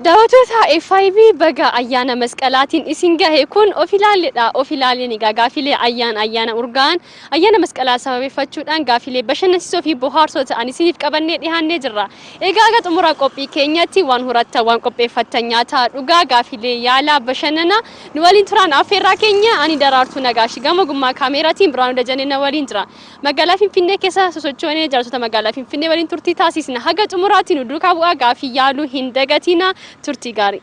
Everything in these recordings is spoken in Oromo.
Daawwattoota FIB baga ayyaana masqalaatiin isin gahe kun of ilaalledha. Of ilaaleen egaa gaafilee ayyaana ayyaana urgaa'an ayyaana masqalaa sababeeffachuudhaan gaafilee bashannansiisoo fi bohaarsoo ta'an isiniif qabannee dhiyaannee jirra. Egaa aga xumura qophii keenyatti waan horattan waan qopheeffattan nyaataa dhugaa gaafilee yaalaa bashannanaa Nu waliin turaan affeerraa keenya ani Daraartuu Nagaash. Gama ogummaa kaameeraatiin Birhaanuu Dajanee na waliin jira. Magaalaa Finfinnee keessa sosochoonee jiraattoota magaalaa Finfinnee waliin turtii taasiisna. Haga xumuraatti nu duukaa bu'aa gaaffii yaaluu hin dagatiinaa. Turtii gaarii.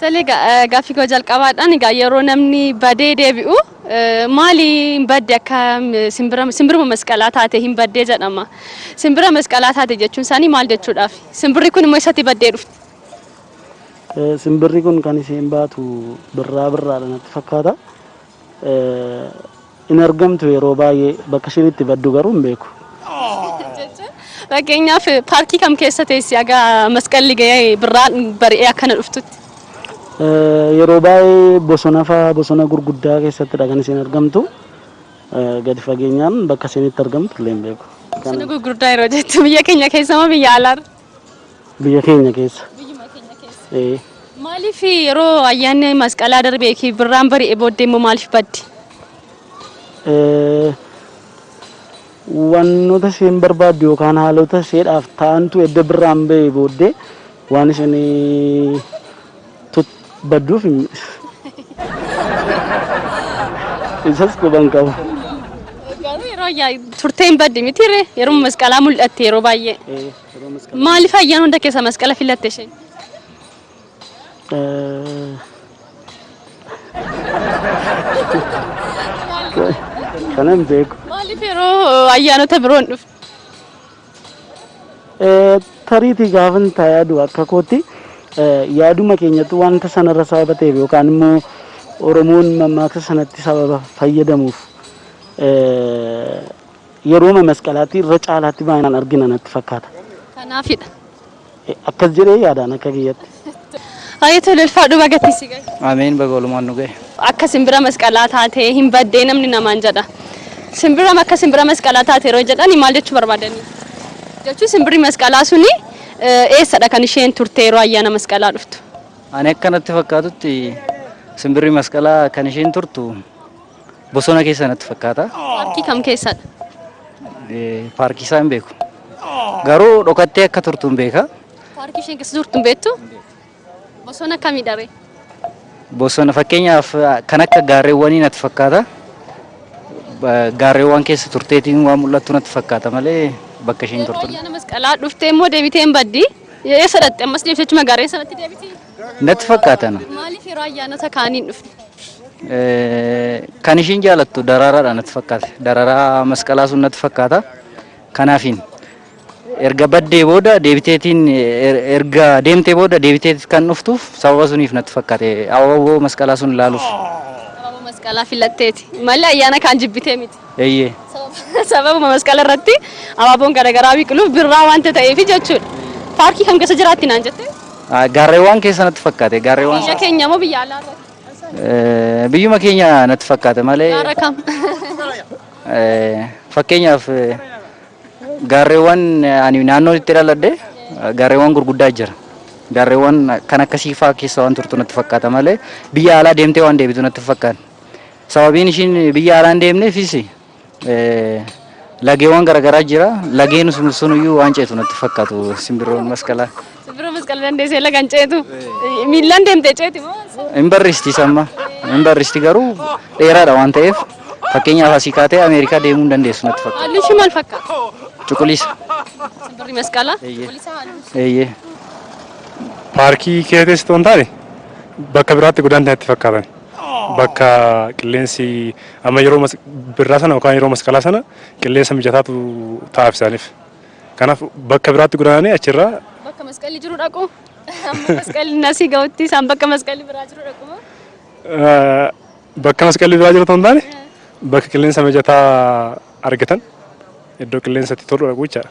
Tole gaaffii koo jalqabaadhaan egaa yeroo namni badee deebi'u maali hin badde akka simbira simbiruma masqalaa taate hin baddee jedhama. Simbira masqalaa taate jechuun isaanii maal jechuudhaaf? Simbirri kun immoo eessatti baddee dhufte? Simbirri kun kan isheen baatu birraa birraadha natti fakkaata. Hin argamtu yeroo baay'ee bakka isheen itti baddu garuu hin beeku. Fakkeenyaaf paarkii kam keessa teessi aga masqalli ga'ee birraan bari'ee akkana dhuftutti? Yeroo baay'ee bosona fa'aa bosona gurguddaa keessattidha kan isheen argamtu. Gadi fageenyaan bakka isheen itti argamtu illee hin beeku. Bosona gurguddaa yeroo jettu biyya keenya keessa moo biyya alaarra? Biyya keenya keessa. Biyyuma keenya keessa. Ee. Maaliif yeroo ayyaanni masqalaa darbee fi birraan bari'e booddee immoo maaliif baddi? Ee, Wantoota isheen barbaaddu yookaan haalota isheedhaaf ta'antu edda birraan ba'e booddee waan isheen Tut badduu finye. Isas quban qabu. Garuu yeroo ayyaa turtee hin badde miti ree yeroo masqalaa mul'atte yeroo baay'ee. Maaliif ayyaan hunda keessa masqala filatte isheen? Kana hin beeku. Maaliif yeroo ayyaanota biroon dhufte? Tariitii gaafan taa yaadu akka kootti yaaduma keenyatti wanta sanarra sababa ta'eef yookaan immoo Oromoon mammaaksa sanatti sababa fayyadamuuf yerooma masqalaatti irra caalaatti baay'inaan argina natti fakkaata. Kanaafidha. Akkas jedhee yaadaan akka kiyyatti. Haayee tole ulfaadhu baga itti si gahe. Ameen baga walumaan nu gahe. Akka simbira masqalaa taatee hin baddee namni namaan jedha. Simbira akka simbira masqalaa taate yeroo jedhani maal jechuu barbaadani? Jechuu simbirri masqalaa suni eh, eessadha kan isheen turte yeroo ayyaana masqalaa dhuftu? Ani akka natti fakkaatutti simbirri masqalaa kan isheen turtu Bosona keessa natti fakkaata. Paarkii kam keessadha? Eh, Paarkii isaa hin beeku. Garuu dhokattee akka turtu hin beeka. Paarkii isheen keessa jirtu hin beektu? Bosona kamidha ree? Bosona fakkeenyaaf ah, kan akka gaarreewwanii natti fakkaata. Ba- Gaarreewwan keessa turteetiin waan mul'attu natti fakkaata malee bakka isheen Yeroo turtu. ayyaana masqalaa dhuftee immoo deebitee hin baddi. Eessa dhaqxe ammas deebitee achuma gaarreen sanatti deebiti? natti fakkaatana. Maaliif yeroo ayyaanota kaanii hin dhufne? Eh, Kan ishiin jaalattu daraaraadha natti fakkaate. Daraaraa masqalaa sun natti fakkaata. Kanaafiin erga baddee booda deebiteetiin er- erga deemtee booda deebiteet kan dhuftuuf sababa suniif natti fakkaate. Abaaboo masqalaa sun ilaaluuf. Abaaboo masqalaa filatteeti. Malee ayyaana kaan jibbitee miti. Eeyyee. Sababuma masqala irratti abaaboon garagaraa biqiluuf birraa wanta ta'eefi jechuudha. Paarkii kam keessa jiraatti naan jette? Gaarreewwaan keessa natti fakkaate. Gaarreewwaan Biyya keenya moo biyya alaa irratti? Biyyuma keenya natti fakkaata malee. Gaara kam? Fakkeenyaaf gaarreewwan ani naannoo itti dhaladhe gaarreewwan gurguddaa jira. Gaarreewwan kan akkasii fa'aa keessa waan turtu natti fakkaata malee biyya alaa deemtee waan deebitu natti hin fakkaanne. Sababiin ishiin biyya alaa hin deemneefis lageewwan garaagaraa jira. Lageen sun iyyuu waan ceetu natti fakkaatu simbirroon masqalaa. Simbirroon masqala dandeessee laga hin ceetu. Miillaan deemtee ceeti moo? Hin barristi samma. Hin barristi garuu dheeraadha waan ta'eef fakkeenyaaf asii kaatee Ameerikaa deemuu hin dandeessu natti fakkaata. Haalli ishii maal fakkaata? Cuquliisa. Simbirri masqalaa. Eeyyee. Cuquliisa haalli. Eeyyee. Paarkii keessatti osoo hin taane bakka biraatti godaanti natti fakkaatan. bakka qilleensi amma yeroo mas- birraa sana yookaan yeroo masqalaa sana qilleensa mijataatu ta'aaf isaaniif. Kanaaf bakka biraatti godaananii achirraa Bakka masqalli jiru dhaqu. Amma masqalli nasii ga'utti isaan bakka masqalli biraa jiru dhaqu moo? eh, bakka masqalli biraa jiru ta'uu hin taane bakka qilleensa mijataa argatan iddoo qilleensatti tolu dhaqu jechaadha.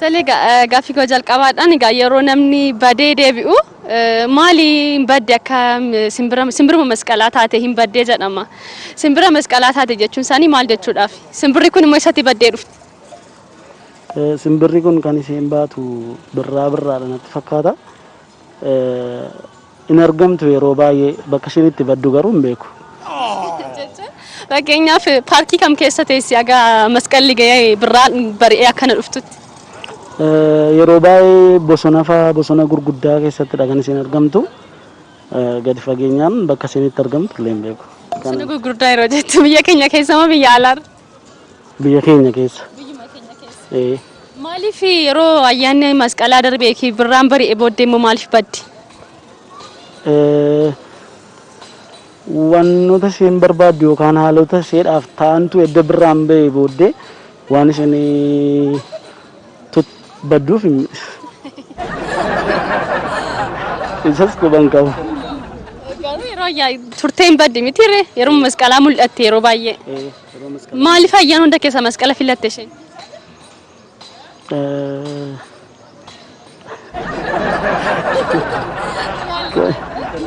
Tole egaa gaaffii koo jalqabaadhaan egaa yeroo namni badee deebi'u maali hin badde akka simbira simbiruma masqalaa taate hin baddee jedhama. Simbira masqalaa taate jechuun isaanii maal jechuudhaaf? Simbirri kun immoo eessatti baddee dhufte? Simbirri kun kan isheen baatu birraa birraadha natti fakkaata. Hin argamtu yeroo baay'ee bakka isheen itti baddu garuu hin beeku. Fakkeenyaaf paarkii kam keessa teessi aga masqalli ga'ee birraan bari'ee akkana dhuftutti? Yeroo baay'ee bosona fa'aa bosona gurguddaa keessattidha kan isheen argamtu. Gadi fageenyaan bakka isheen itti argamtu illee hin beeku. Bosona gurguddaa yeroo jettu biyya keenya keessa moo biyya alaarra? Biyya keenya keessa. Biyyuma keenya keessa. Ee. Maaliif yeroo ayyaanni masqalaa darbee fi birraan bari'e booddee immoo maaliif baddi? Ee, Wantoota isheen barbaaddu yookaan haalota isheedhaaf ta'antu edda birraan ba'e booddee waan isheen Tut badduu finni. Isas quban qabu. Garuu yeroo ayyaa turtee hin badde miti ree yeroo masqalaa mul'atte yeroo baay'ee. Maaliif ayyaan hunda keessa masqala filatte isheen?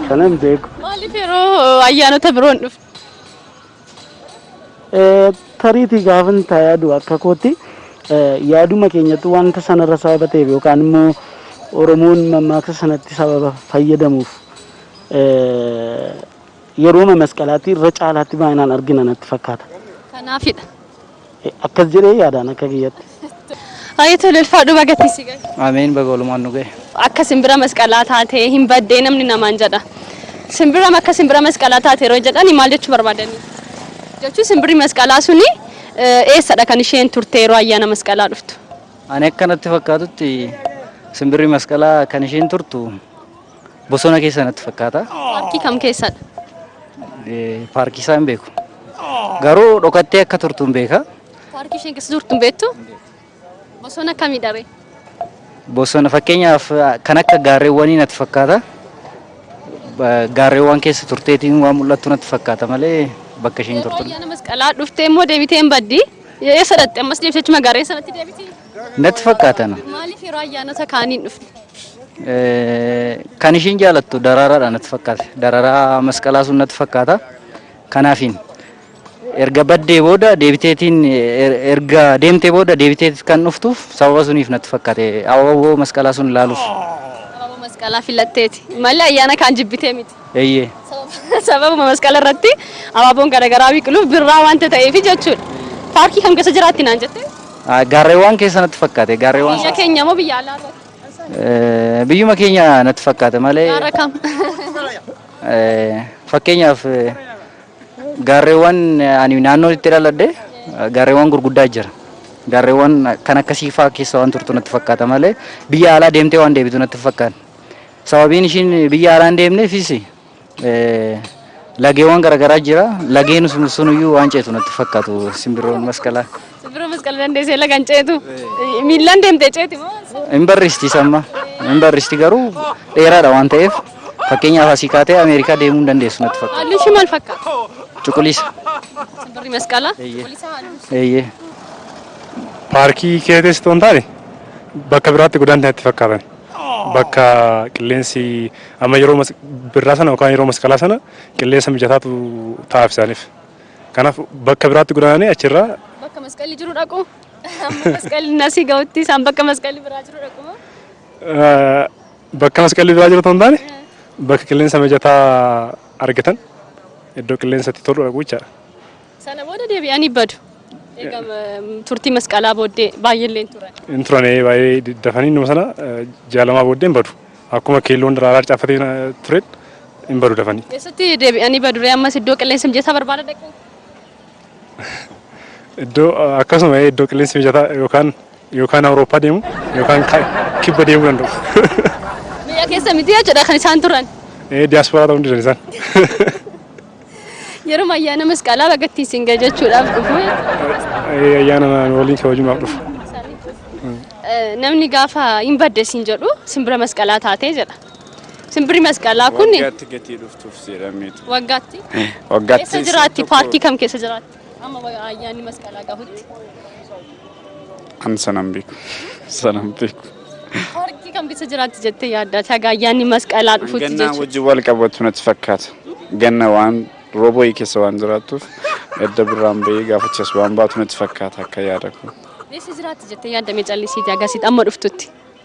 Kanan beeku. Maaliif yeroo ayyaanota biroon dhufte? Tariitii gaafan taa yaadu akka kootti yaaduma keenyatti wanta sanarra sababa ta'eef yookaan immoo Oromoon mammaaksa sanatti sababa fayyadamuuf yerooma masqalaatti irra caalaatti baay'inaan argina natti fakkaata. Kanaafidha. Akkas jedhee yaadaan akka kiyyatti. Haye tole ulfaadhu baga itti si gahe. Ameen baga walumaan nu gahe. Akka simbira masqalaa taate hin baddee namni namaan jedha. Simbira akka simbira masqalaa taate yeroo jedhani maal jechuu barbaadani? Jechuun simbirri masqalaa suni eh, eessadha kan isheen turte yeroo ayyaana masqalaa dhuftu? Ani akka natti fakkaatutti simbirri masqalaa kan isheen turtu Bosona keessa natti fakkaata. Paarkii kam keessadha? Eh, Paarkii isaa hin beeku. Garuu dhokattee akka turtu hin beeka. Paarkii isheen keessa turtu hin beektu? Bosona kamidha ree? Bosona fakkeenyaaf ah, kan akka gaarreewwanii natti fakkaata. Ba- Gaarreewwan keessa turteetiin waan mul'attu natti fakkaata malee bakka isheen Yeroo turtu. ayyaana masqalaa dhuftee immoo deebitee hin baddi. Eessa dhaqxe ammas deebitee achuma gaarreen sanatti deebiti. Natti fakkaatana. Maaliif yeroo ayyaanota kaaniin dhufne? Kan ishiin jaalattu daraaraadha natti fakkaata. Dararaa masqalaa sun natti fakkaata. Kanaafiin erga baddee booda deebiteetiin erga deemtee booda deebiteet kan dhuftuuf sababa suniif natti fakkaate. Abaaboo masqalaa sun ilaaluuf. Abaaboo masqalaa filatteeti. Malee ayyaana kaan jibbitee miti. Eeyyee. Sababuma masqala irratti abaaboon garagaraa biqiluuf birraa wanta ta'eefi jechuudha. Paarkii kam keessa jiraatti naan jette? Gaarreewwaan keessa natti fakkaate. Gaarreewwaan Biyya keenya moo biyya alaa irratti? Biyyuma keenya natti fakkaata malee. Gaara kam? Fakkeenyaaf gaarreewwan ani naannoo itti dhaladhe gaarreewwan gurguddaa jira. Gaarreewwan kan akkasii fa'aa keessa waan turtu natti fakkaata malee biyya alaa deemtee waan deebitu natti hin fakkaanne. Sababiin ishiin biyya haaraa hin deemneefis lageewwan garaagaraa jira. Lageen sunuyyuu waan ceetu natti fakkaatu simbirroon masqalaa. Simbirroon masqala dandeessee laga hin ceetu. Miillaan deemtee ceeti moo? Hin barristi samma. Hin barristi garuu dheeraadha waan ta'eef fakkeenyaaf asii kaatee Ameerikaa deemuu hin dandeessu natti fakkaata. Halluu ishii maal fakkaata? Cuquliisa. Simbirri masqalaa. Eeyyee. Cuquliisa halluu. Eeyyee. Paarkii keessatti osoo hin taane bakka biraatti godaanti natti fakkaatan. bakka qilleensi amma yeroo mas- birraa sana yookaan yeroo masqalaa sana qilleensa mijataatu taa'aaf isaaniif. Kanaaf bakka biraatti godaananii achirraa Bakka masqalli jiru dhaqu. Amma masqalli nasii ga'utti isaan bakka masqalli biraa jiru dhaqu moo? eh, bakka masqalli biraa jiru ta'uu hin taane bakka qilleensa mijataa argatan iddoo qilleensatti tolu dhaqu jechaadha. Sana booda deebi'anii badu. Egaa turtii masqalaa booddee baay'eellee hin turan. Hin turan baay'ee dafanii innuma sana jaalamaa booddee hin badu. Akkuma keelloon daraaraa caaffatee tureet hin badu dafanii. Eessatti deebi'anii baduree ammas iddoo qilleensi mijataa barbaada dhaqu? Iddoo akkasuma iddoo qilleensi mijataa yookaan Yookaan Awurooppaa deemu yookaan kibba deemuu danda'u. Biyya keessa miti jechuudha kan isaan turan. Diyaasporaa ta'uu danda'an isaan. Yeroo ayyaana masqalaa bagatti isin gahe jechuudhaaf dhufu. Ayyaana waliin kabajuudhaaf dhufu. Namni gaafa hin badde isin jedhu simbira masqalaa taatee jedha. Simbirri masqalaa kun. Waggaatti gatii dhuftuuf jedhameetu. Waggaatti. Waggaatti. Keessa jiraatti paarkii kam keessa jiraatti? Amma ayyaanni masqalaa gahutti. An sanan beeku. Sanan beeku. Horti kam keessa jiraatti jettee yaadda? Taga ayyaanni masqalaa dhufutti Gannaa jechuudha. wajjin wal qabatu natti fakkaata. Ganna waan roobooyii keessa waan jiraattuuf edda birraan bahee gaafachas waan baatu natti fakkaata akka yaada koo. Eessa jiraatti jettee yaadda mee callisiiti agasitti amma dhuftutti?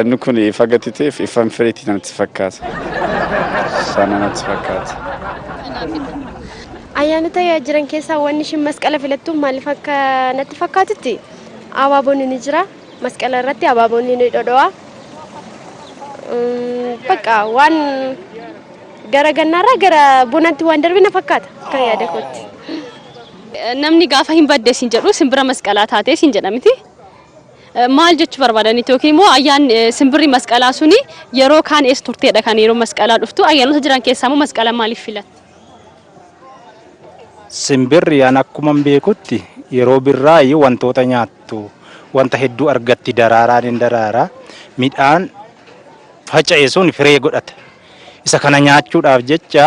Inni kun ifa gati ta'eef ifan firiitti namatti fakkaata. Isaa namatti fakkaata. Ayyaanota jiran keessaa wanni ishiin masqala filattu maaliif akka natti fakkaatutti abaaboonni ni jira. Masqala irratti abaaboonni ni dhodho'a. Mm, Bakka waan gara gannaarraa gara bonaatti waan darbe na fakkaata akka yaada kootti. Namni gaafa hin badde siin jedhu simbira masqalaa taatee siin jedha miti. Maal jechuu barbaadaniitu yookiin immoo ayyaan simbirri masqalaa suni yeroo kaan eessa turteedha kan yeroo masqalaa dhuftu ayyaanota jiran keessaa immoo masqala maaliif filatte? Simbirri an akkuman beekutti yeroo birraayi wantoota nyaattu wanta hedduu argatti daraaraan hin daraara midhaan faca'e sun firee godhata isa kana nyaachuudhaaf jecha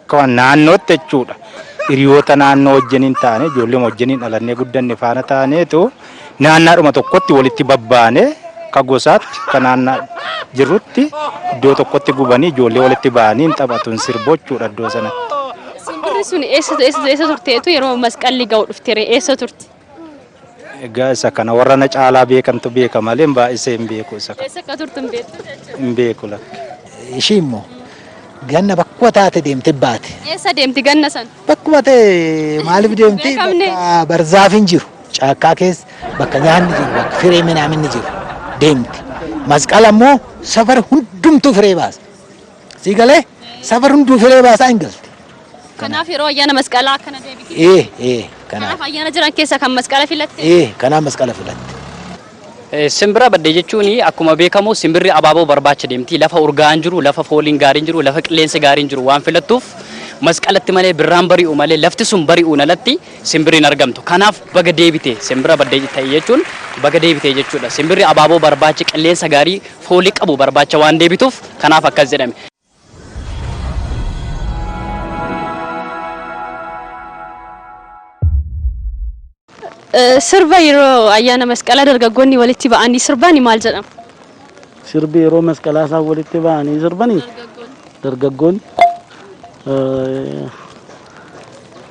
Akka naannootti jechuudha. Hiriyoota naannoo wajjiniin taane ijoollee wajjiniin dhalannee guddanne faana taaneetu naannaadhuma tokkotti walitti babbaane akka gosaatti akka naannaa jirrutti iddoo tokkotti gubanii ijoollee walitti ba'anii hin taphatu hin sirbu jechuudha iddoo sanatti. Simbirri sun eessa eessa eessa turteetu yeroo masqalli ga'u dhuftere eessa turte? Egaa isa kana warra na caalaa beekantu beeka malee baay'isee hin beeku isa kana. Eessa akka turtu hin beektu jechuudha. Hin beeku lakki. Ishii immoo ganna bakkuma taate deemte baate. Eessa deemti ganna san? Bakkuma ta'e maaliif deemti? Beekamne. Bakka barzaafiin jiru. Caakkaa keessa bakka nyaanni jiru, bakka firee minaaminni jiru deemti. Masqala immoo safara hundumtuu firee baasa. Sii galee safar hunduu filee baasaa hin galte. Kanaaf yeroo ayyaana masqalaa akkana deebite. Ee ee kanaa Kanaaf ayyaana jiran keessaa kan masqala filatte. ee kanaa masqala filatte. Eh, Simbira baddee jechuun akkuma beekamu simbirri abaaboo barbaacha deemti. Lafa urgaa'aan jiru, lafa fooliin gaariin jiru, lafa qilleensi gaariin jiru waan filattuuf masqalatti malee birraan bari'u malee lafti sun bari'uun alatti simbirri hin argamtu. Kanaaf baga deebite simbira baddeetti ta'i jechuun baga deebite jechuudha. Simbirri abaaboo barbaacha qilleensa gaarii foolii qabu barbaacha waan deebituuf kanaaf akkas jedhame. Sirba yeroo ayyaana masqalaa dargaggoonni walitti ba'anii sirbaani maal jedhama? Sirbi yeroo masqalaa isaan walitti ba'anii sirbanii dargaggoonni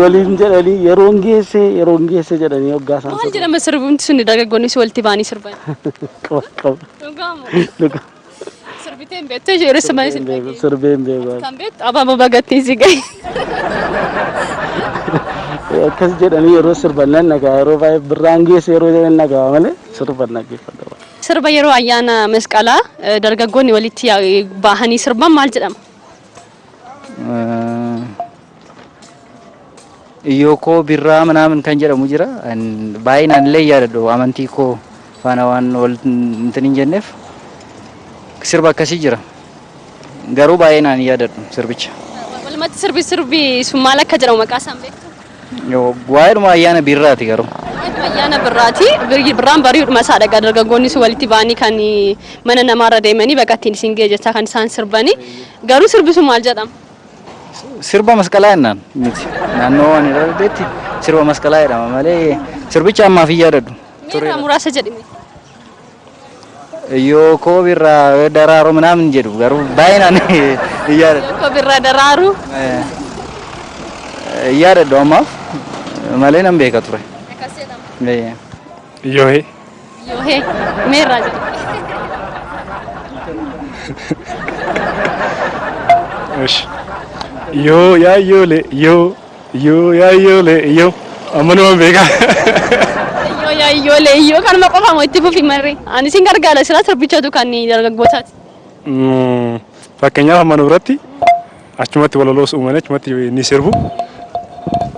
waliin jedhanii yeroon geesse yeroon geesse jedhanii hoggaa isaan Maal jedhama sirbumti sun dargaggoonni si walitti ba'anii sirban. qaba qaba Dhugaamo. dhuga Sirbitee hin beektu yeroo sirban isin dhageenya. sirbee hin beeku Kan beektu abaaboo bagattiin si gahe. akkas jedhanii yeroo sirban nan dhaga'a yeroo baay'ee birraan geesse yeroo jedhan dhaga'a malee sirban dhaggeeffadha. Sirba yeroo ayyaana masqalaa eh, dargaggoonni walitti yaa- bahanii sirban maal jedhama? Iyyookoo birraa minaamin kan jedhamu jira. Baay'inaan illee yaadadhu amantii koo faana waan wal intin hin jenneef sirba akkasii jira. Garuu baay'inaan hin yaadadhu sirbicha. Walumatti sirbi sirbi sun maal akka jedhamu maqaa isaan beektu? Waa'eedhuma ayyaana birraati garuu. Waa'eedhuma ayyaana birraati. Birraan bari'uudhuma isaa dhagaa dargaggoonni sun walitti ba'anii kan mana namaarra deemanii baga ittiin isin ga'e jechaa kan isaan sirbanii. Garuu sirbi sun maal jedhama? Sirba masqalaa jennaan miti. Naannoo waan irra deddeetti sirba masqalaa jedhama malee sirbicha ammaaf hin yaadadhu. Mee irraa muraasa jedhime. Yoo koo birraa daraaroo minaamin jedhu garuu baay'inaan hin yaadadhu. Yoo koo birraa daraaruu. Hin yaadadhu ammaaf malee nan beeka ture. Akkas jedhama. Yohe. Yohe. Meerraa jedhu. Ishi. Yoo yaa yoole yoo yoo yaa yoole yoo amma numan beekaa. Yoo yaa iyyoolee iyyoo kanuma qofa moo itti fufi marree. Ani isin gargaara silaa sirbichatu kan dargaggootaati. Fakkeenyaaf amma nu biratti achumatti walaloos uumanii achumatti ni sirbu.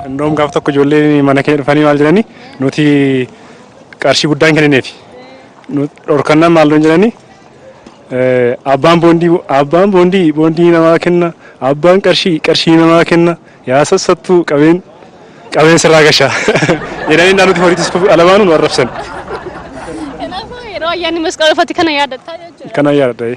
Indoom gaaf tokko ijoolleen mana keenya dhufanii maal jedhanii nuti qarshii guddaa hin kennineefi. Dhorkannaan maal nuun jedhanii abbaan boondii abbaan boondii boondii namaa kenna abbaan qarshii qarshii namaa kenna yaa sassattuu qabeen qabeen sirraa gashaa jedhanii innaa nuti horiitis alamaanuu nu arrabsan. Kanaafuu yeroo ayyaanni masqalaa dhufatti kana yaadattaa jechuudha. Kana yaadadha.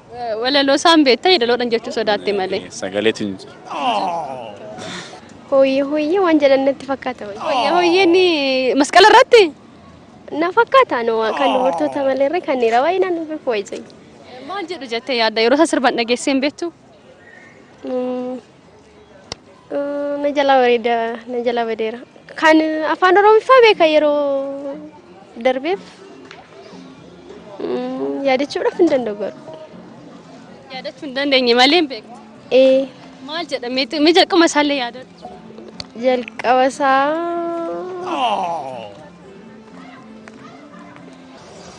Walaloo isaan beekta yedaloodhan jechuu sodaatte malee. Sagaleetu hin jiru. Hooyyee hooyyee waan jedhan natti fakkaata wayii. Hooyyee hooyyee inni masqala irratti. Na fakkaata nu kan dubartoota malee irra kan dhiira wayii naan beeku wayii. Maal jedhu jettee yaadda yeroo isaa sirban dhageessee hin beektu? Na jalaa bareeda na jalaa badeera. Kan afaan oromiffaa beeka yeroo darbeef mm, yaadachuudhaaf hin danda'u garuu. Yaadachuu hin dandeenye malee hin beektu. Ee Maal jedha mee mee jalquma isaallee yaadadhu. jalqaba isaa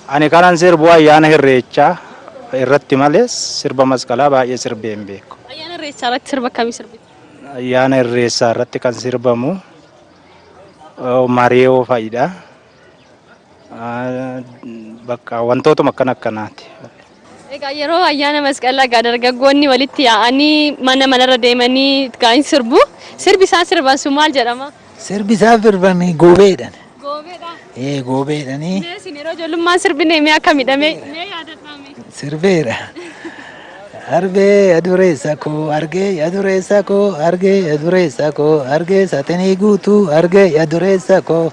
Ani kanan sirbu ayyaana Irreechaa irratti malee sirba masqalaa baay'ee sirbee hin beeku. Ayyaana Irreechaa irratti sirba akkamii sirbita? Ayyaana Irreessaa irratti kan sirbamu eh, mareeyoo fa'idha. Ah, Bakka wantootuma akkana akkanaati. Egaa yeroo ayyaana masqalaa egaa dargaggoonni walitti yaa'anii mana manarra deemanii egaa hin sirbu. Sirbi isaan sirban sun maal jedhama? Sirbi isaan sirban goobeedhan. Goobeedha? Ee goobeedhani. Mee isin yeroo ijoollummaan sirbine mee akkamidha mee mee yaadadhaa mee? Sirbeedha. Arbee adureessa koo argee adureessa koo argee adureessa koo argee saxinii guutuu argee adureessa koo.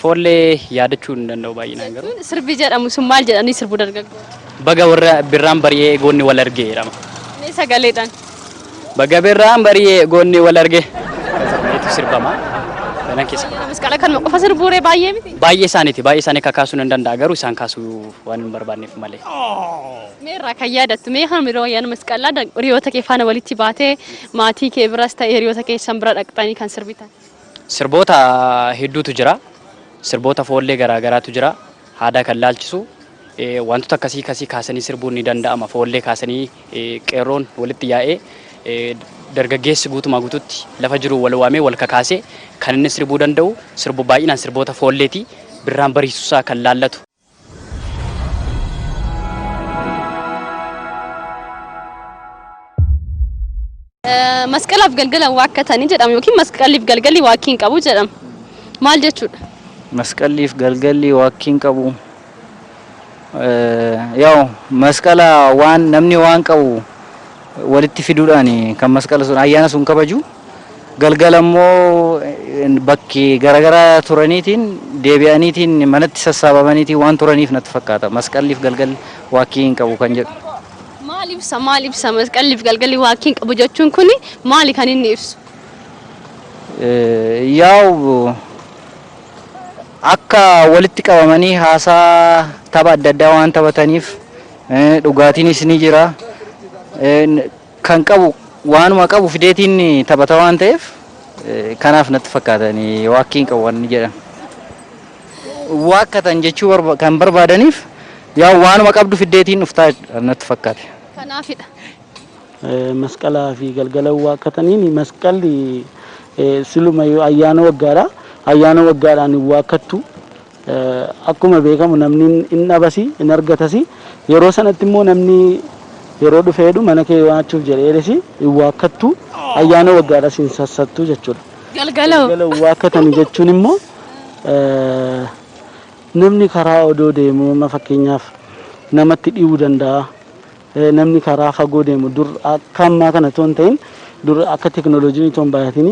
Foollee yaadachuu hin danda'u baay'inaan garuu. Jechuun sirbi jedhamu sun maal jedhanii sirbu dargaggoonni? Baga warra birraan bari'ee goonni wal arge jedhama. Mee sagaleedhaan. Baga birraan bari'ee goonni wal arge jedhameetu sirbama. Kanan keessa. Baay'ee namas qala kanuma qofa sirbuu ree baay'ee miti? Baay'ee isaaniiti baay'ee isaanii kakaasuu nan danda'a garuu isaan kaasuu waan hin barbaanneef malee. Mee irraa kan yaadattu mee kanuma yeroo ayyaana masqalaa hiriyoota kee faana walitti baatee maatii kee biras ta'e hiriyoota keessan bira dhaqxanii kan sirbitan? Sirboota hedduutu jira. Sirboota foollee garaa garaatu jira. Aadaa kan laalchisu wantoota akkasii kasii kaasanii sirbuun ni danda'ama. Foollee kaasanii qeerroon walitti yaa'ee dargaggeessi guutumaa guututti lafa jiru wal waamee wal kakaasee kan inni sirbuu danda'u sirbu baay'inaan sirboota foolleeti. Birraan bariisusaa kan laallatu. Masqalaaf galgala waakkatanii jedhama yookiin masqaliif galgalli waakkii hin qabu jedhama. Maal jechuudha? Masqaliif galgalli waakkii hin qabu. Yaa'u masqala waan namni waan qabu walitti fiduudhaan kan masqala sun ayyaana sun kabaju. Galgala immoo bakki garagaraa turaniitiin deebi'aniitiin manatti sassaabamaniitiin waan turaniif natti fakkaata. Masqalliif galgalli waakkii hin qabu kan jedhu. Maal ibsa maal ibsa masqalliif galgalli waakkii hin qabu jechuun kuni maali kan inni ibsu? Yaa'u akka walitti qabamanii haasaa tapha adda addaa waan taphataniif dhugaatiinis ni jira. kan qabu waanuma qabu fideetiin taphata waan ta'eef kanaaf natti fakkaata waakkii hin qabu wanni jedhan waakkatan jechuu barba- kan barbaadaniif yaa waanuma qabdu fiddeetiin dhuftaa natti fakkaate. Kanaafidha. Eh, masqalaa fi galgala waakkataniin masqalli eh, siluma yoo ayyaana waggaadha ayyaana waggaadhaan hin waakkattu Akkuma beekamu namni in dhabasi, in argatasi. Yeroo sanatti immoo namni yeroo dhufee jedhu mana kee waachuuf jedheedhas in waakkattu, ayyaana waggaadhas in sassattu jechuudha. Galgala hoo? Galgala waakkatani jechuun immoo namni karaa odoo deemuu amma fakkeenyaaf namatti dhi'uu danda'a. Namni karaa fagoo deemu dur akka ammaa kana otoo hin ta'in dur akka teknolojiin otoo hin baay'atin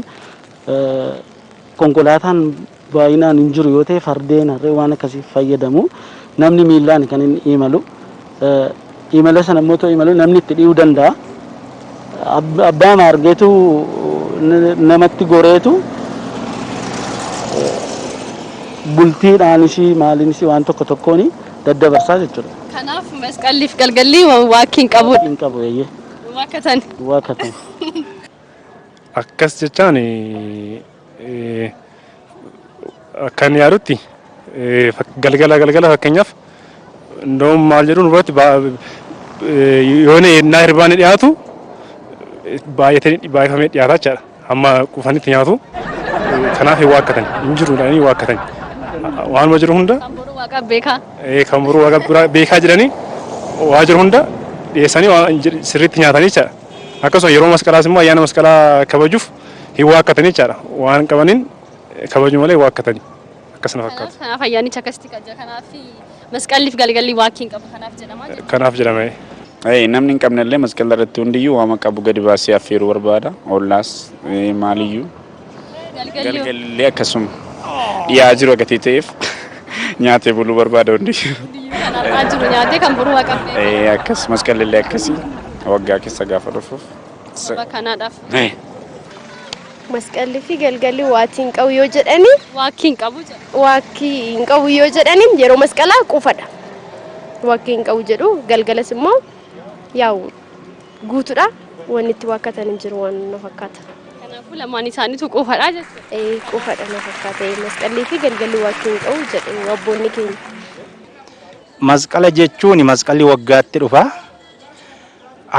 Konkolaataan baay'inaan hin jiru yoo ta'e fardeen, harree waan akkasiif fayyadamu. Namni miillaan kan inni imalu. Imala sana immoo otoo imalu namni itti dhi'uu danda'a. Abbaa maargeetu namatti goreetu bultiidhaanis maaliinis waan tokko tokkoon daddabarsaa jechuudha. Kanaaf masqalliif galgalli waakkiin qabudha. Waakkiin qabu eeyyee. Duwwaa akka ta'an. Duwwaa akka ta'an. Akkas jechaan akkan yaadutti galgala galgala fakkeenyaaf ndoom maal jedhuun irratti yoona yennaa hirbaanni dhiyaatu baay'atanii baay'ifamee dhiyaataa jechaadha. Hamma qufanitti nyaatu kanaaf hin waakkatan hin jiru jedhanii hin waakkatan waanuma jiru hunda Kan boruu waaqa beekaa. kan boruu waaqa beekaa jedhanii waa jiru hunda dhiyeessanii sirriitti nyaatanii jechaadha. Akkasuma yeroo masqalaas immoo ayyaana masqalaa kabajuuf hin waakkatani jechaadha. Waan qabaniin kabaju malee hin waakkatani. Akkas na fakkaata. Kanaaf ayyaanichi akkasitti kabaja. Kanaaf masqalliif galgalli waakkii hin qabu. Kanaaf jedhama jechuudha. Kanaaf jedhama. Namni hin qabnellee masqala irratti hundiyyuu waama qabu gadi baasee affeeruu barbaada. Ollaas maaliyyuu. Galgalli Galgallee akkasuma dhiyaa jiru gatii ta'eef nyaatee buluu barbaada hundi. kan har'aa jiru nyaatee kan boruu haqabdee Eh, Akkas masqallee akkasii waggaa keessa gaafa dhufuuf. sababa kanaadhaaf Eh, Masqalli fi galgalli waatii hin qabu yoo jedhani waakkii hin qabu jedha. waakkii hin qabu yoo jedhani yeroo masqalaa qufadha. Waakkii hin qabu jedhu galgalas immoo yaa'u guutudha. Wanni itti waakkatan hin jiru waan na fakkaata. Kanaafuu lamaan isaaniitu quufadha jechuudha. Ee quufadha na fakkaata. Ee masqallii fi galgalli waakkii hin qabu jedhu abboonni keenya. Masqala jechuun masqalli waggaatti dhufa.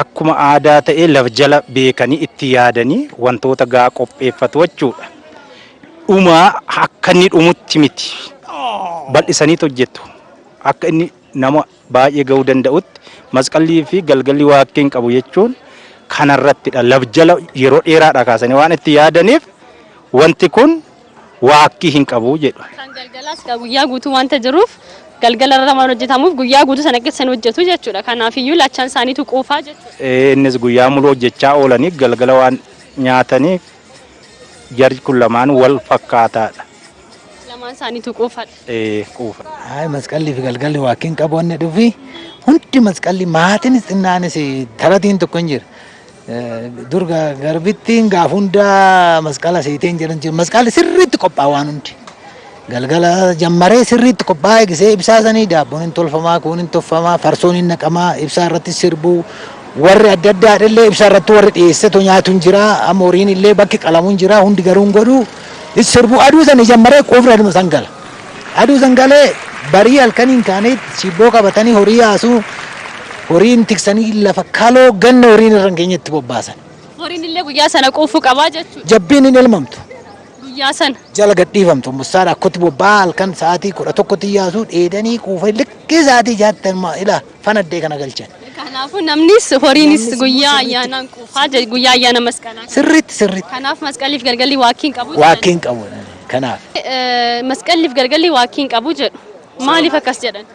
Akkuma aadaa ta'ee laf jala beekanii itti yaadanii wantoota gaa qopheeffatu jechuudha. Dhuma akka inni dhumutti miti. Bal'isaniitu hojjetu. Akka inni nama baay'ee ga'uu danda'utti masqallii fi galgalli waaqxii hin qabu jechuun kana irratti dha laf jala yeroo dheeraa dhaa kaasanii waan itti yaadaniif wanti kun waaqxii hin qabu jedhu. Kan galgalaas egaa guyyaa guutuu wanta jiruuf galgala irra waan hojjetamuuf guyyaa guutuu sana keessa hin hojjetu jechuudha. Kanaaf iyyuu lachan isaaniitu quufaa jechuudha. Ee, innis guyyaa muluu hojjechaa oolanii galgala waan nyaataniif Jarj kun lamaan wal fakkaataadha. Lamaan isaaniitu quufadha. Ee quufa. Haay masqallii fi galgalli waakkiin qabu wanni dhufi hundi masqallii maatiinis xinnaanis taratiin tokko hin jira. Dur garbittiin gaaf hundaa masqala seetee hin jedhan jiru. Masqalli sirriitti qophaa waan hundi. Galgala jammaree sirriitti qophaa'ee gisee ibsaa sanii daabboon hin tolfamaa, kuun hin toffamaa, farsoon hin naqamaa, ibsaa irratti sirbuu, warri adda addaa illee ibsaa irratti warri dhiyeessetu nyaatu hin jiraa, amma horiin illee bakki qalamu hin jiraa, hundi garuu hin godhuu, hin sirbuu, aduu sanii jammaree quufni aduma san gala. Aduu san galee barii halkaniin kaanii shiibboo qabatanii horii yaasuu, horiin tiksanii lafa kaloo ganna horiin irra hin geenyetti bobbaasan. Horiin illee guyyaa sana quufuu qabaa jechuudha. Jabbiin hin elmamtu. Guyyaa sana. jala gadhiifamtu mustaan akkoti bobba'aa halkan sa'aatii kudha tokkotti yaasuu dheedanii quufanii likkii sa'aatii jaatti amma ila fanaddee kana galchan. Kanaafuu namnis horiinis guyyaa ayyaanaan quufaa je- guyyaa ayyaana masqalaa. Sirriitti sirriitti Kanaaf masqaliif galgalli waakkiin qabu. jedhan. waakkeen qabu kanaaf. Eh, Masqaliif galgalli waakkiin qabu jedhu. Maaliif akkas jedhan?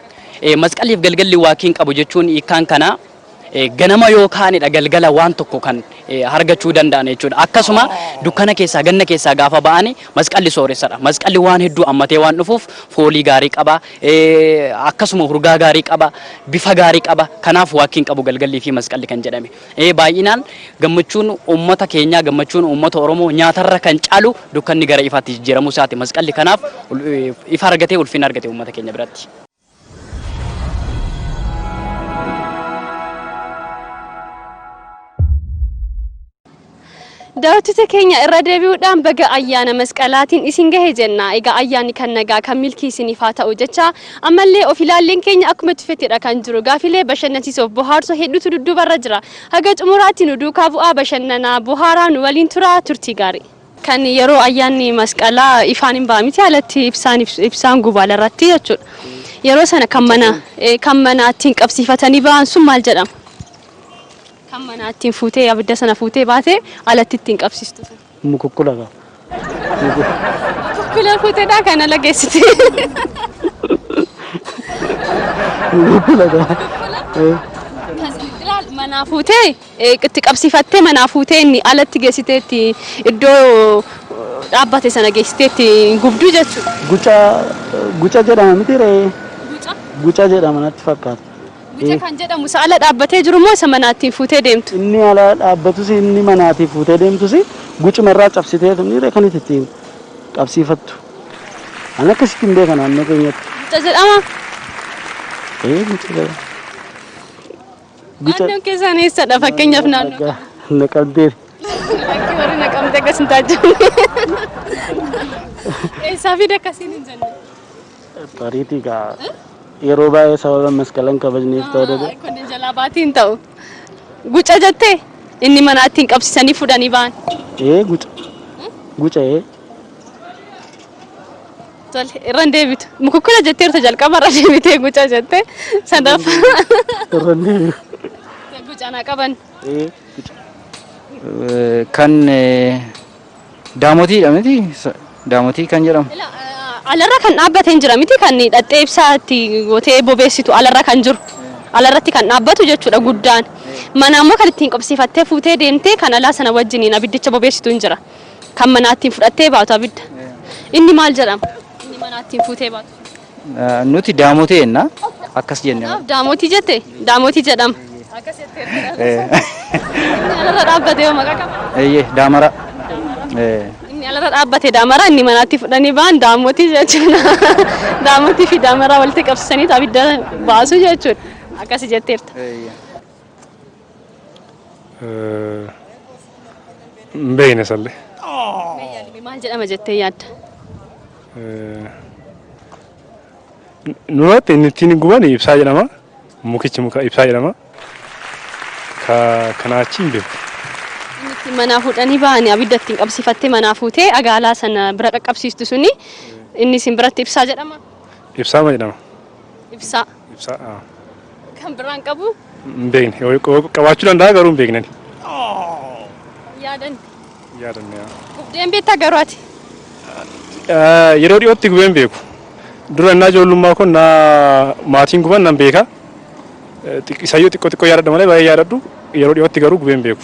Eh, Masqaliif galgalli waakkiin qabu jechuun hiikkaan kanaa Ganama yoo kaanedha galgala waan tokko kan hargachuu danda'an jechuudha. Akkasuma dukkana keessaa, ganna keessaa gaafa ba'ani masqalli sooressadha. Masqalli waan hedduu ammatee waan dhufuuf foolii gaarii qaba, akkasuma hurgaa gaarii qaba, bifa gaarii qaba. Kanaaf waakkiin qabu galgallii fi masqalli kan jedhame. Baay'inaan gammachuun uummata keenyaa, gammachuun uummata Oromoo nyaatarra kan caalu dukkanni gara ifaatti jijjiiramuu isaati masqalli. Kanaaf ifa argatee, ulfina argate uummata keenya biratti. Daawwattoota keenya irra deebi'uudhaan baga ayyaana masqalaatiin isin gahe jenna. Egaa ayyaanni kan nagaa kan milkii isiniif haa ta'u jecha ammallee of ilaalleen keenya akkuma tufettidha kan jiru. Gaafilee bashannansiisoof bohaarsu hedduutu dudduubarra jira. Haga xumuraatti nu duukaa bu'aa bashannanaa bohaaraa nu waliin turaa turtii gaarii. Kan yeroo ayyaanni masqalaa ifaan hin ba'a miti alatti ibsaan ibsaan guba alarratti jechuudha. Yeroo sana kan mana kan manaa ittiin qabsiifatanii ba'an sun maal jedhama? Kan manaa ittiin fuutee abidda sana fuutee baatee alatti ittiin qabsiistu sun. Mukukkula qaba. Mukukkula fuuteedhaa kan ala geessite. Mukukkula qaba. Kan manaa fuutee itti qabsiifattee manaa fuutee inni alatti geessitee itti iddoo dhaabbate sana geessitee itti gubdu jechuudha. Guca guca jedhama miti ree? Guca? Guca jedhama natti fakkaata. Guca kan jedhamu isa ala dhaabbatee jiru moo isa manaa ittiin fuutee deemtu? Inni ala dhaabbatus inni manaatii fuutee deemtus gucuma irraa cabsiteetu inni ree kan itti ittiin qabsiifattu. Ani akkasitti hin beeka naannoo keenyatti. Guca jedhama? Ee guca jedhama. Guca- Naannoon keessaan eessadha fakkeenyaaf naannoo Nagaa na qabdeef. Akka warri na qabde akkas hin taajjabne. Eessaa fi dakkasiin hin jenne. Tariitii kaa yeroo baay'ee sababa masqalan kabajneef ta'uu danda'a. Kun jalaa baatii hin ta'u. Guca jettee inni manaa ittiin qabsiisanii fudhanii ba'an. Ee guca. Guca ee. Tole irra hin deebitu. Mukukkula jetteerta jalqaba irra deebitee guca jette. Sadaaf Irra hin deebi'u. guca naa qaban. Ee, guca. Eh, Kan eh, daamotiidha miti? Sa- Daamotii kan jedhamu. Ila, eh, Alarra kan dhaabbate hin jira miti kan dhaxxee ibsaa itti gootee bobeessitu alarra kan jiru. Alarratti kan dhaabbatu jechuudha guddaan. Mana ammoo kan ittiin qobsiifattee fuutee deemtee kan alaa sana wajjiniin abiddicha bobeessitu hin jira. Kan manaattiin fudhattee baatu abidda. Inni maal jedhama? Inni manaattiin fuutee baatu. Eh, Nuti daamotee jenna akkas jenne. Kanaaf daamotii jette daamotii jedhama. Akkas jettee Eh, Inni alarra dhaabbate yoo maqaa qaba. Eeyyee daamara. Eh, Inni alarra dhaabbate daamara inni manaatti fudhanii ba'an daamotii jechuudha. Daamotii fi daamara walitti qabsiisanii abidda baasu jechuudha. Akkasi jetteerta. eeyyee. Hin beekne sallee. Maal jedhama jettee yaadda? Nuratti inni ittiin guban ibsaa jedhama. Mukichi muka ibsaa jedhama. Ka kanaa achi hin beeku. Inni ittiin manaa fuudhanii ba'anii abidda ittiin qabsiifattee manaa fuutee agaalaa sana bira qaqqabsiistu suni inni isin biratti ibsaa jedhama. Ibsaa ma jedhama? Ibsaa. Ibsa. Kan biraan qabu. Hin beekne. Qabaachuu danda'a garuu hin beekne. Yaadan. Yaadan. Gubdeen beektaa garuu ati. Yeroo dhiyootti gubeen beeku. Dura innaa ijoollummaa kun naa maatiin guban nan beeka. Isayyoo xiqqoo xiqqoo yaadadha malee baay'ee yaadadhu. Yeroo dhiyootti garuu gubeen beeku.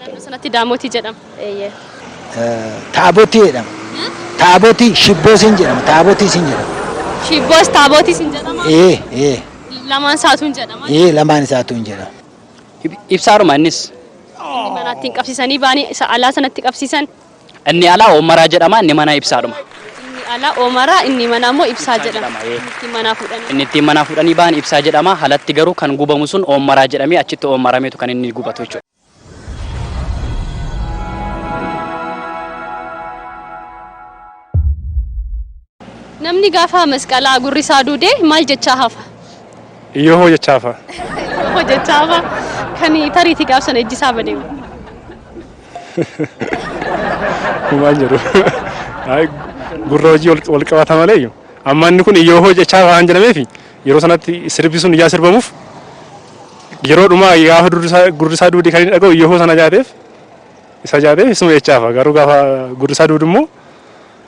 Naannoo sanatti Daamotii jedhama. Eeyyee. Taabotii jedhama. Taabotii shibboo siin jedhama. Taabotii siin jedhama. Shibboos Taabootiis hin jedhama. Ee ee Lamaan isaatu hin jedhama. ee lamaan isaatu hin jedhama. Ibsaadhuma innis. Inni manaatti hin qabsiisanii baanii isa alaa sanatti qabsiisan. Inni alaa Oomaraa jedhama, inni manaa Ibsaadhuma. Inni alaa Oomaraa, inni manaa immoo Ibsaa jedhama. Inni ittiin manaa fuudhanii. Inni ittiin manaa fuudhanii bahan Ibsaa jedhama, alatti garuu kan gubamu sun Oomaraa jedhamee achitti Oomarameetu kan inni gubatu jechuudha. Namni gaafa masqalaa gurri isaa duude maal jechaa hafa? Iyyoo hoo jechaa hafa. Iyyoo hoo jechaa hafa. Kan tariitii gaaf sana ijji isaa badee. Kumaan jedhu. Gurra hojii wal qabata malee amma inni kun iyyoo hoo jechaa waan jedhameef yeroo sanatti sirbi sun ijaa sirbamuuf yeroo dhumaa gaafa gurri isaa duude kan inni dhaga'u iyyoo hoo sana jaateef isa jaateef isuma jechaa hafa garuu gaafa gurri isaa duudu immoo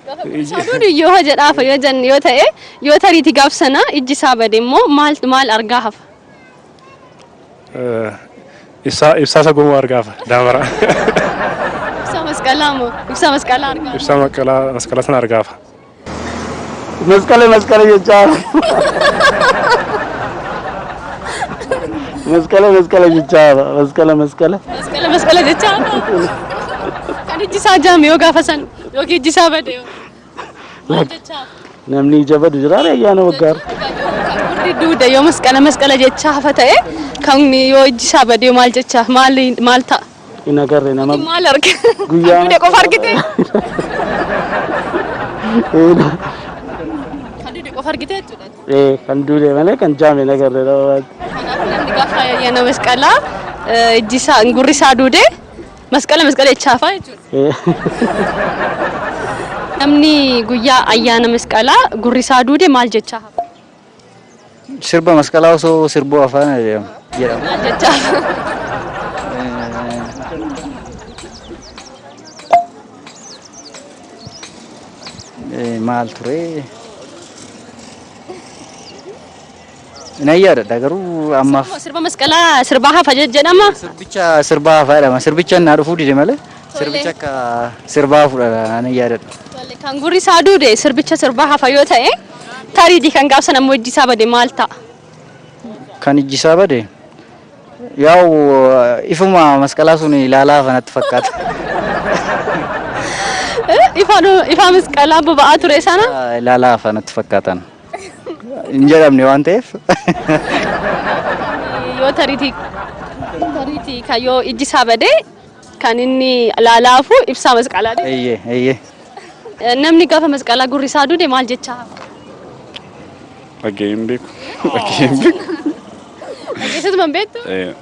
Gaafa qurishaa duudu iyyoo ha jedhaafa yoo janne yoo ta'e yoo tariiti gaaf sana ijji isaa bade immoo maal maal argaa hafa? Ibsaa ibsaa isa gomuu argaafa daamara. Ibsaa masqalaa moo ibsaa masqalaa argaa? Ibsaa masqalaa masqalaa sana argaafa. Masqala masqala jechaa. Masqala masqala jechaa masqala masqala. Masqala masqala jechaa kan ijji isaa jaame yoo gaafa sana. Yookiin ijji isaa bade yoo. Maal jechaaf? Namni ija badu jira ree ayyaana waggaa irra. Warri duuda yoo masqala masqala jechaa hafa ta'e kan yoo ijji isaa bade maal jechaaf maal maal ta'a? Hin agarre nama Maal arge? Guyyaa- Duuda qofa argite? Eena. Kan duuda qofa argite jechuudha. Ee kan duulee malee kan jaame hin agarre nama. Kanaafuu namni gaafa ayyaana masqalaa eh, ijji isaa gurri isaa duude Masqala masqala jechaa faa jechuudha. Namni guyyaa ayyaana masqalaa gurri isaa duude maal jechaa hafa? Sirba masqalaa osoo sirbuu afaan jedhama. jedhama. Maal jechaa hafa? Eh, Maal ture? Nan yaadadha garuu ammaaf. Sirba sirba masqalaa sirbaa hafa je- jedhama. Sirbicha sirbaa hafaa jedhama. Sirbicha naa dhufuu dide malee Tole. sirbicha akka sirbaa hafuudha nan yaadadha. Tole, Kan gurri isaa duude sirbicha sirbaa hafa yoo ta'e tariitii kan gaafsan ammoo ijji isaa bade maal ta'a? Kan ijji isaa bade yaa'u ifuma masqalaa sun ilaalaa hafa natti fakkaata. Eh, Ifaan ifaa masqalaa boba'aa ture sana. Ilaalaa hafa natti fakkaatan. hin jedhamne waan ta'eef. Yoo tariitii tariitii kan yoo ijji isaa badee kan inni laalaafu ibsaa masqalaa deema. Eeyyee eeyyee. Namni gaafa masqalaa gurri isaa duude maal jechaa? Dhagee hin beeku. Dhagee hin beeku. Dhageessatu man beektu? Eh,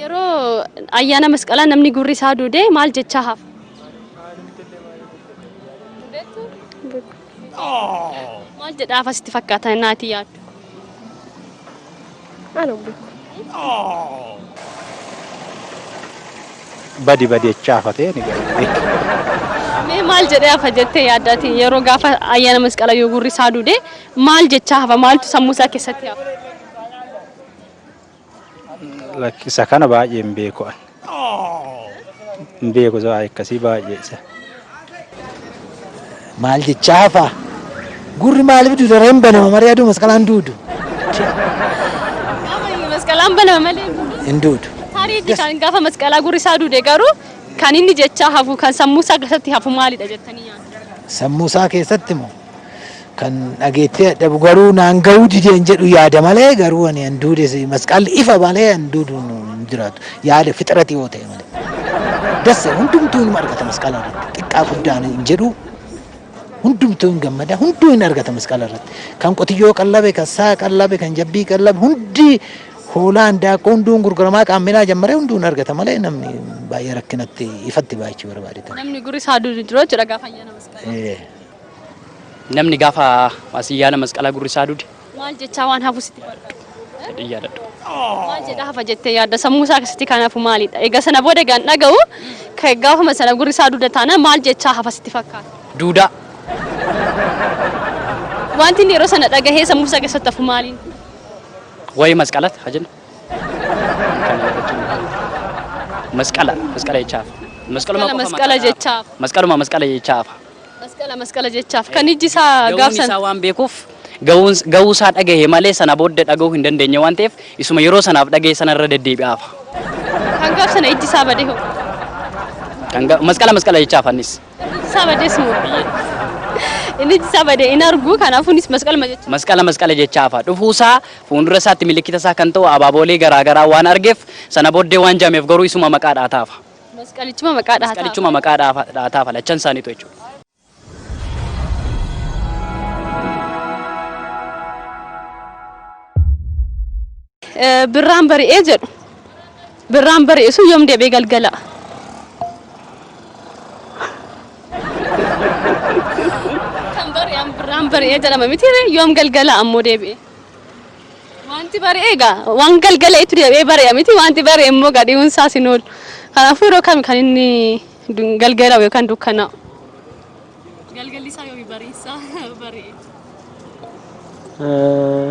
Yeroo ayyaana masqalaa namni gurri isaa duude maal jechaa hafa? Maal jedhaa afa sitti fakkaata naatii yaaddu? Ana beeku. Badi badi jechaa hafatee ni gaafate. Mee maal jedhee hafa jettee yaaddaati yeroo gaafa ayyaana masqala yoo gurri isaa duude maal jechaa hafa maaltu sammuu isaa keessatti hafa? Isa kana baay'ee hin beeku ani. Hin beeku isa waa'ee akkasii baay'ee isa. Maal jechaa hafaa? Gurri maaliif duudara hin banama malee aduu masqalaan duudu. Masqalaan banama malee Hin duudu. taariitti kan gaafa masqalaa gurri isaa duude garuu kan inni jechaa hafu kan sammuu isaa keessatti hafu maalidha jettanii yaaddu? Sammuu isaa keessatti moo? Kan dhageettee dadhabu garuu naan gahuu dideen jedhu yaada malee garuu ani an duude masqaalli ifa malee an duudu hin jiraatu. Yaada fixirati yoo ta'e malee. Dassa hundumtuu hin argata masqala irratti. Xiqqaa guddaan hin jedhu hundumtuu hin gammada hunduu hin argata masqala irratti. Kan qotiyyoo qallabe kan saa qallabe kan jabbii qallabe hundi hoolaa handaaqqoo hunduun gurguramaa qaamminaa jammaree hunduu hin argata malee namni baay'ee rakkinatti ifatti baay'achuu barbaade ta'a. Namni gurri isaa duudu hin jiru jechuudha gaafa ayyaana masqalaa. Eh, Namni gaafa Ayyaana Masqalaa gurri isaa dude. Maal jechaa waan hafu sitti fakkaata? Jedhee yaadadhu. Maal jedha hafa jettee yaadda sammuu isaa keessatti kan hafu maalidha? Egaa sana booda egaa hin dhaga'u kan gaafuma sana gurri isaa duuda taana maal jechaa hafa sitti fakkaata? Duudaa. Wanti inni yeroo sana dhagahee sammuu isaa keessatti hafu maaliin? Waa'ee masqalatti haa jennu. Masqala masqala jechaa hafa. Masqaluma Masqala qofa masqala masqala jechaa hafa. Masqaluma masqala jechaa hafa. Masqala masqala jechaaf kan ijji isaa Ga'uun gaabsan. isaa waan beekuuf ga'uun ga'uu isaa dhagahe malee sana booddee dhaga'uu hin dandeenye waan ta'eef isuma yeroo sanaaf dhagahe sana irra deddeebi'aa hafa. Kan gaabsana ijji isaa badee hoo? Kan ga- Masqala masqala jechaa afannis. Ijji isaa badees moo? Inni ijji isaa badee hin argu kanaafuunis masqalma jecha. Masqala masqala jechaa hafa. Dhufuu isaa fuuldura isaatti milikkita isaa kan ta'u abaaboolee garaagaraa waan argeef sana booddee waan jaameef garuu isuma maqaa dhaataa hafa. Masqalichuma maqaa dhaataa. Masqalichuma maqaa dhaataa falachan isaaniitu jechuudha. Birraan bari'ee jedhu. Birraan bari'ee sun yoom deebi'ee galgala. Kan bari'an birraan bari'ee jedhama miti yoom galgala ammoo deebi'ee. Wanti bari'e egaa waan galgala itti deebi'ee bari'a miti wanti bari'e immoo egaa dhi'uun isaas hin oolu. Kanaafuu yeroo kami kan inni du- galgala'u yookaan dukkanaa'u? Galgalli isaa yoomi bariin isaa bari'e? Eh,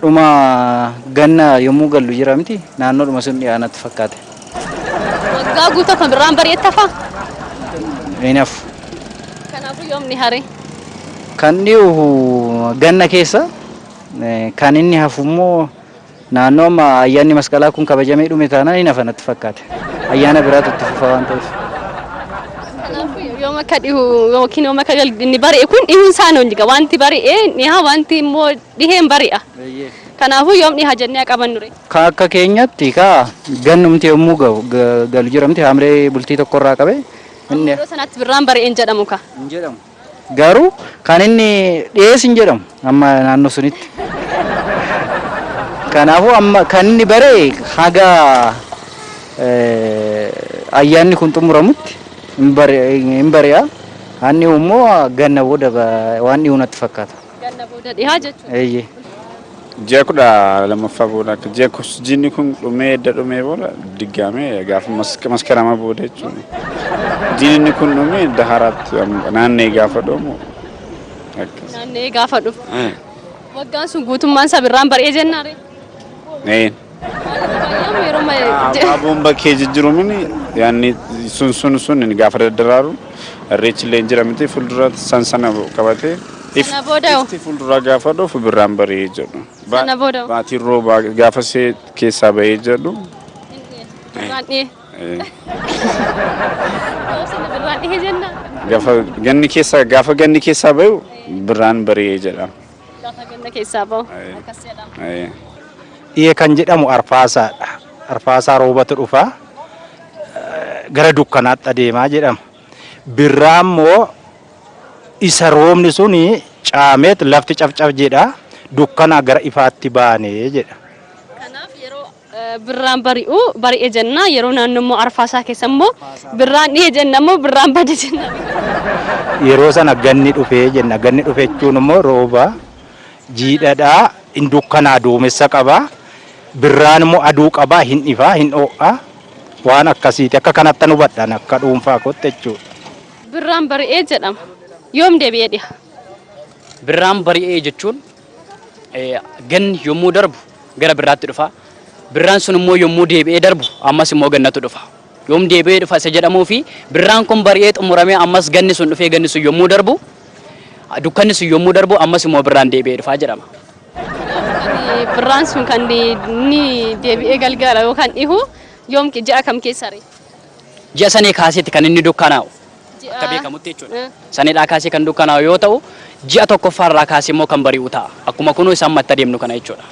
Dhuma ganna yommuu gallu jira miti naannoodhuma sun dhiyaa natti fakkaate. Waggaa guutuu akkuma birraan bari'etti hafaa? Hin hafu. Kanaafuu yoom ni haree? Kan dhihu ganna keessa kan inni hafu immoo naannoo amma ayyaanni masqalaa kun kabajamee dhume taanaan hin hafa natti fakkaate. Ayyaana biraatu itti fufa waan ta'eef. Kanaafuu yoom akka dhihu yookiin yoom akka gal- inni bari'e kun dhihuun isaa hin oolliga. Wanti bari'e hin dhiha, wanti immoo dhihe hin bari'a. Kanaafuu yoom dhiha jennee haa qabannu ree? Ka akka keenyatti ka gannumti yommuu ga'u ga- galu jiramti haamlee bultii tokkorraa qabee inni Yeroo sanatti birraan bari'e hin jedhamu kaa. hin jedhamu. Garuu kan inni dhiyees hin jedhamu amma naannoo sunitti. Kanaafuu amma kan inni bare haga ayyaanni kun xumuramutti hin bari'a. Haan dhihu immoo ganna booda waan dhihu natti fakkaata. Ganna booda dhihaa jechuudha. Eeyyee. Ji'a kudha lammaffaa booda akka ji'a jiinni kun dhumee edda dhumee booda diggaamee gaafa maskarama booda jechuudha. Jiinni kun dhumee edda haaraatti naannee gaafa dhumu akkas. Naannee gaafa dhufu. Waggaan sun guutummaan sabirraan bari'ee jennaare. Ee. Abbaa boomba kee jijjirumin yaanni sun sun sun gaafa daddaraaru irreechi illee jira miti fuuldura san sana qabatee Sana booda hoo? ifti fuulduraa gaafa dhufu birraan bari'ee jedhu. Ba- Sana booda hoo? Baatiin roobaa gaafa see keessaa ba'ee jedhu. Birraan dhihee. eh, Sana birraan dhihee jenna. Gaafa ganni keessaa gaafa ganni keessaa ba'u birraan bari'ee jedha. Lafa ganna keessaa ba'u. Aye. Akkas jedhama. Aye. Dhiye kan jedhamu arfaasaadha. Arfaasaa roobatu dhufa. Eh, Gara dukkanaatti adeemaa jedhama. Birraa immoo isa roobni suni caameet lafti cafcaf jedha. Dukkanaa gara ifaatti baanee jedha. Kanaaf yeroo Birraan bari'u bari'e jenna yeroo naannoo immoo arfaasaa keessa immoo birraan dhihe jenna immoo birraan bade jenna. Yeroo sana ganni dhufe jenna ganni dhufe jechuun immoo rooba jiidhadha hin dukkanaa duumessa qaba birraan immoo aduu qaba hin ifa hin ho'a waan akkasiiti akka kanattan hubadha ani akka dhuunfaa kootti jechuudha. Birraan bari'e jedhama. Yoom deebi'ee dhiha? Birraan bari'e jechuun Ganni yommuu darbu gara birraatti dhufa. Birraan sun immoo yommuu deebi'ee darbu ammas immoo gannatu dhufa. Yoom deebi'ee dhufa isa jedhamuu fi birraan kun bari'ee xumuramee ammas ganni sun dhufee ganni sun yommuu darbu dukkanni sun yommuu darbu ammas immoo birraan deebi'ee dhufa jedhama. Birraan sun kan inni deebi'ee galgala yookaan dhihu yoom ji'a kam keessa ree? Ji'a Sanee kaaseeti kan inni dukkanaa'u. Akka Ji'a. beekamutti jechuudha. Eh. Saneedhaa kaasee kan dukkanaa'u yoo ta'u, ji'a tokkoffaa irraa kaasee immoo kan bari'u ta'a. Akkuma kunoo isa amma itti adeemnu kana jechuudha.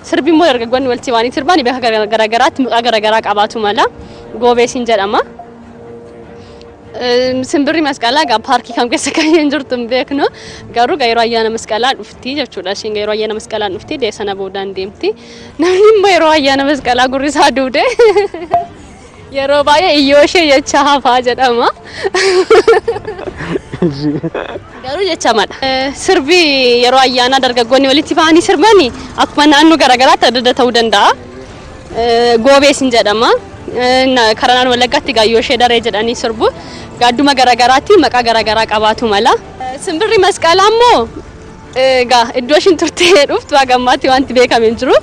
Sirbi immoo dargaggoonni walitti baanii sirbaan beeka garaagaraatti maqaa garaagaraa qabaatu mala. Goobeesiin jedhama. Simbirri masqalaa egaa paarkii kam keessa kan hin jirtu hin beeknu garuu yeroo ayyaana masqalaa dhufti jechuudha. Isheen yeroo ayyaana masqalaa dhufti deessana boodaan deemti. Namni immoo yeroo ayyaana masqalaa gurri isaa duude. Yeroo baay'ee iyyooshee jecha hafaa jedhama. Garuu jechamadha. Sirbi yeroo ayyaanaa dargaggoonni walitti bahanii sirbani akkuma naannoo garaagaraatti adda adda ta'uu danda'a. Goobees hin jedhama. Karaa naannoo Wallaggaatti egaa iyyooshee daree jedhanii sirbu. Gaadduma garaagaraatti maqaa garaagaraa qabaatu mala. Simbirri masqalaa immoo Egaa iddoo ishiin turtee dhuftu haga ammaatti wanti beekame hin jiru.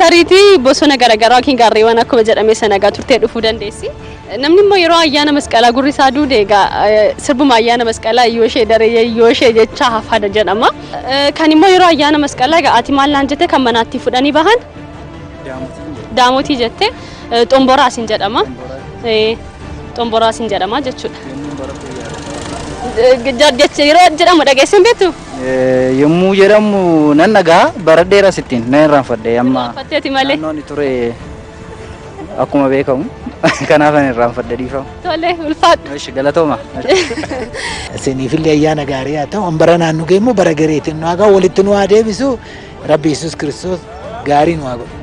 Tariitii bosona garaagaraa yookiin gaarreewwan akkuma jedhame sana egaa turtee dhufuu dandeessi. Namni immoo yeroo ayyaana masqalaa gurri isaa duude egaa sirbuma ayyaana masqalaa yoo ishee daree yoo ishee jechaa hafaada jedhama. Kan immoo yeroo ayyaana masqalaa egaa ati maal naan jette kan manaatti fudhanii bahan daamotii jette. Eh, Xomboraa isin jedhama. Eh, Xomboraa isin jedhama jechuudha. Eh, je- jecha- Yeroo jedhamu dhageessan beektu? Eh, yommuu jedhamu nan dhagaa bara dheeras ittiin nan irraanfadhe amma Irraanfatteeti malee. naannoon ture akkuma beekamu kanaaf nan irraanfadhe dhiifama. Tole ulfaadhu. Ishi galatooma. Isiniifillee ayyaana gaarii haa ta'u. Bara naannoo kee immoo bara gariitiin nu hagaa walitti nu haa deebisu. Rabbi Yesuus Kiristoos gaarii nu haa godhu.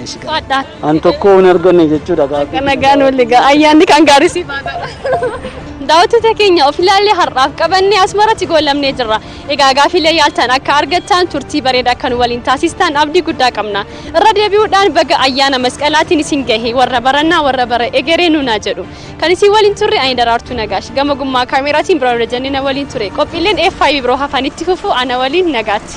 Eesh, gaarii. Faadhaat. An tokko hin arganne jechuudha gaaffii. Nagaan wal egaa ayyaanni kan gaarii siif haa ta'u. Daawwattoota keenya of ilaallee har'aaf qabannee asmaratti goolabnee jirra. Egaa gaafiilee yaaltan akka argattan turtii bareeda akka nu waliin taasistan abdii guddaa qabna. Irra deebi'uudhaan baga ayyaana masqalaatiin isin gahe warra barannaa warra bara egeree nuunaa jedhu. Kan isin waliin turre ani daraartuu nagaash gama gummaa kaameraatiin biraan hojjennee na waliin ture. Qophiileen FIB biroo hafanitti fufu ana waliin nagaatti.